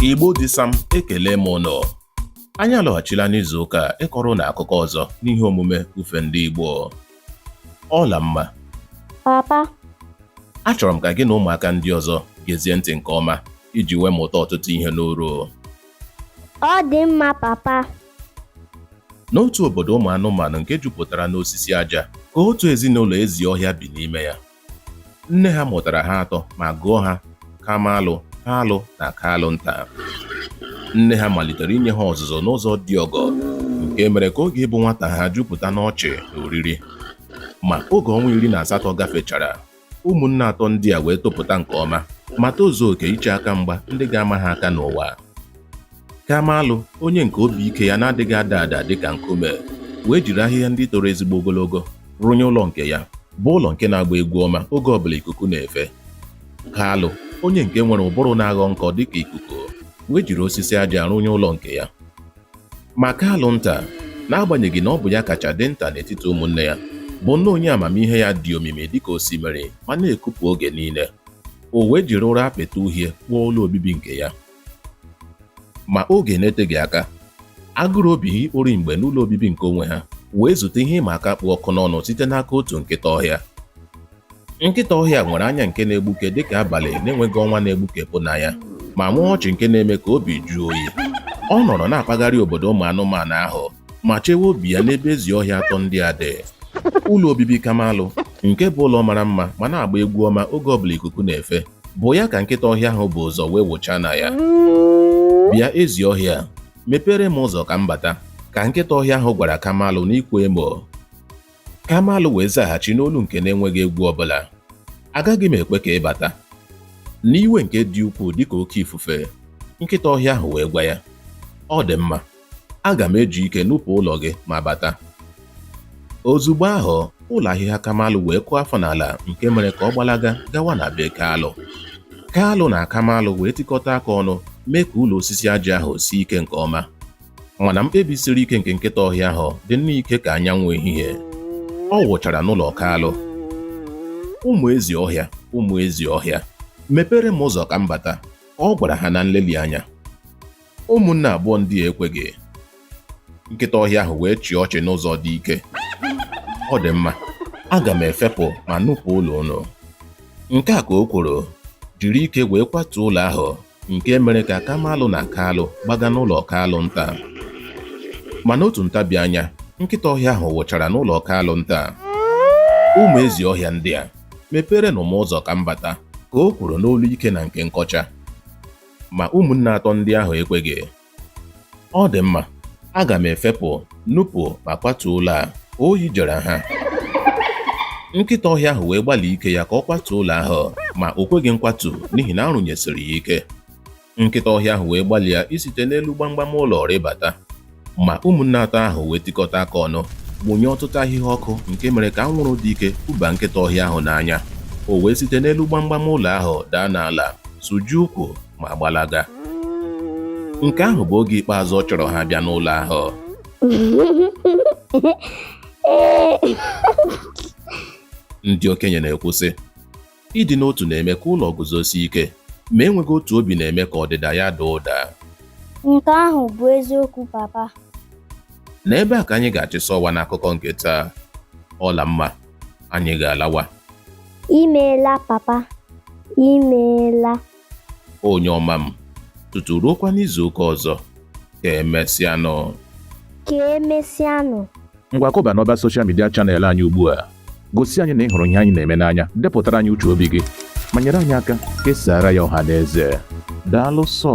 Igbo dị sam ekele m ụnụ anyị alọghachila n'izu ụka a ịkọrọ ụnụ akụkọ ọzọ n'ihe omume ufe ndị Igbo Ọlamma papa achọrọ m ka gị na ụmụaka ndị ọzọ gezie ntị nke ọma iji wee mụta ọtụtụ ihe n'uru ọ dị mma papa n'otu obodo ụmụ anụmanụ nke jupụtara n'osisi aja ka otu ezinụlọ ezi ọhịa bi n'ime ya Nne ha mụtara ha atọ ma gụọ ha Kamalụ, Kalụ na Kalụ Nta. Nne ha malitere inye ha ọzụzụ n'ụzọ dị ọgọ nke mere ka oge ịbụ nwata ha jupụta n'ọchị na oriri. Ma oge ọnwa iri na asatọ gafechara, ụmụnne atọ ndị a wee topụta nke ọma ma tozuo oke iche aka mgba ndị ga-ama ha aka n'ụwa. Kamalụ, onye nke obi ike ya na-adịghị ada ada dị ka nkume, wee jiri ahịhịa ndị toro ezigbo ogologo rụnye ụlọ nke ya, bụ ụlọ nke na-agba egwu ọma oge ọbụla ikuku na-efe. Kalụ, onye nke nwere ụbụrụ na-aghọ nkọ dị ka ikuku, wee jiri osisi aja rụnye ụlọ nke ya. Ma Kalụ nta, n'agbanyeghị na ọ bụ ya kacha dị nta n'etiti ụmụnne ya, bụ nnọọ onye amamihe ya dị omimi dị ka osimiri ma na-ekupụ oge niile. O wee jiri ụrọ apịtị uhie kpụọ ụlọ obibi nke ya. ma oge na-eteghị aka agụrụ obi ha ikpori mgbe n'ụlọ obibi nke onwe ha wee zute ihe ịma aka kpụ ọkụ n'ọnụ site n'aka otu nkịta ọhịa nkịta ọhịa nwere anya nke na-egbuke dịka abalị na-enweghị ọnwa na-egbukepụ na ya ma nwee ọchị nke na-eme ka obi jụọ oyi ọ nọrọ na-akpagharị obodo ụmụ anụmanụ ahụ ma chewe obi ya n'ebe ezi ọhịa atọ ndị a dị ụlọ obibi kamalụ nke bụ ụlọ mara mma ma na-agba egwu ọma oge ọbụla ikuku na-efe bụ ya ka nkịta ọhịa ahụ bu ụzọ wee wụchaa na ya bịa ezi ọhịa mepeere m ụzọ ka m bata ka nkịta ọhịa ahụ gwara kamalụ n'ịkwa emo kamalụ wee zaghachi n'olu nke na-enweghị egwu ọbụla agaghị m ekwe ka ị bata n'iwe nke dị ukwuu dịka oke ifufe nkịta ọhịa ahụ wee gwa ya ọ dị mma Aga m eji ike nupụ ụlọ gị ma bata. Ozugbo ahụ, ụlọ ahịhịa Kamalụ wee kụọ afọ n'ala nke mere ka ọ gbalaga gawa na be Kalụ. Kalụ na Kamalụ wee tikọta aka ọnụ mee ka ụlọ osisi aja ahụ sie ike nke ọma. Mana mkpebi siri ike nke nkịta ọhịa ahụ dị nnọọ ike ka anyanwụ ehihie. Ọ wụchara n'ụlọ Kalụ. Ụmụ ezi ọhịa, ụmụ ezi ọhịa, mepeere m ụzọ ka m bata, ọ gwara ha na nleli anya. Ụmụnne abụọ ndị a ekweghị. Nkịta ọhịa ahụ wee chịa ọchị n'ụzọ dị ike. Ọ dị mma, aga m efepụ ma nupụ ụlọ unu. Nke a ka o kwuru, jiri ike wee kwatuo ụlọ ahụ nke mere ka Kamalụ na Kalụ gbaga n'ụlọ Kalụ nta. Ma n'otu ntabi anya, nkịta ọhịa ahụ wụchara n'ụlọ Kalụ nta. Ụmụ ezi ọhịa ndị a, mepeerenụ m ụzọ ka m bata, ka o kwuru n'olu ike na nke nkọcha. Ma ụmụnne atọ ndị ahụ ekweghị. Ọ dị mma, aga m efepụ, nupụ ma kwatuo ụlọ a. Oyi jere ha. Nkịta ọhịa ahụ wee gbalịa ike ya ka ọ kwatuo ụlọ ahụ, ma o kweghị nkwatu n'ihi na a rụnyesiri ya ike. Nkịta ọhịa ahụ wee gbalịa isite n'elu gbamgbam ụlọ rịbata. Ma ụmụnne atọ ahụ wee tikọta aka ọnụ mụnye ọtụtụ ahịhịa ọkụ nke mere ka anwụrụ dị ike kụba nkịta ọhịa ahụ n'anya o wee site n'elu gbamgbam ụlọ ahụ daa n'ala sụjie ụkwụ ma gbalaga nke ahụ bụ oge ikpeazụ ọ chọrọ ha bịa n'ụlọ ahụ ndị okenye na-ekwu sị Ịdị n'otu na-eme ka ụlọ guzosie ike, ma enweghị otu obi na-eme ka ọdịda ya daa ụda. Nke ahụ bụ eziokwu, Papa. N'ebe a ka anyị ga-achịsa ọwa n'akụkọ nke taa. Ọla mma, anyị ga-alawa. I meela, Papa. I meela. onye ọma m tutu ruokwa n'izu ụka ọzọ ka emesịanụ ka emesịanụ ngwa kụba n'ọba soshal midia chanel anyị ugbu a gosi anyị na ị hụrụ ihe anyị na-eme n'anya depụtara anyị uche obi gị ma nyere anyị aka kesaara ya ọha na eze daalụ sọ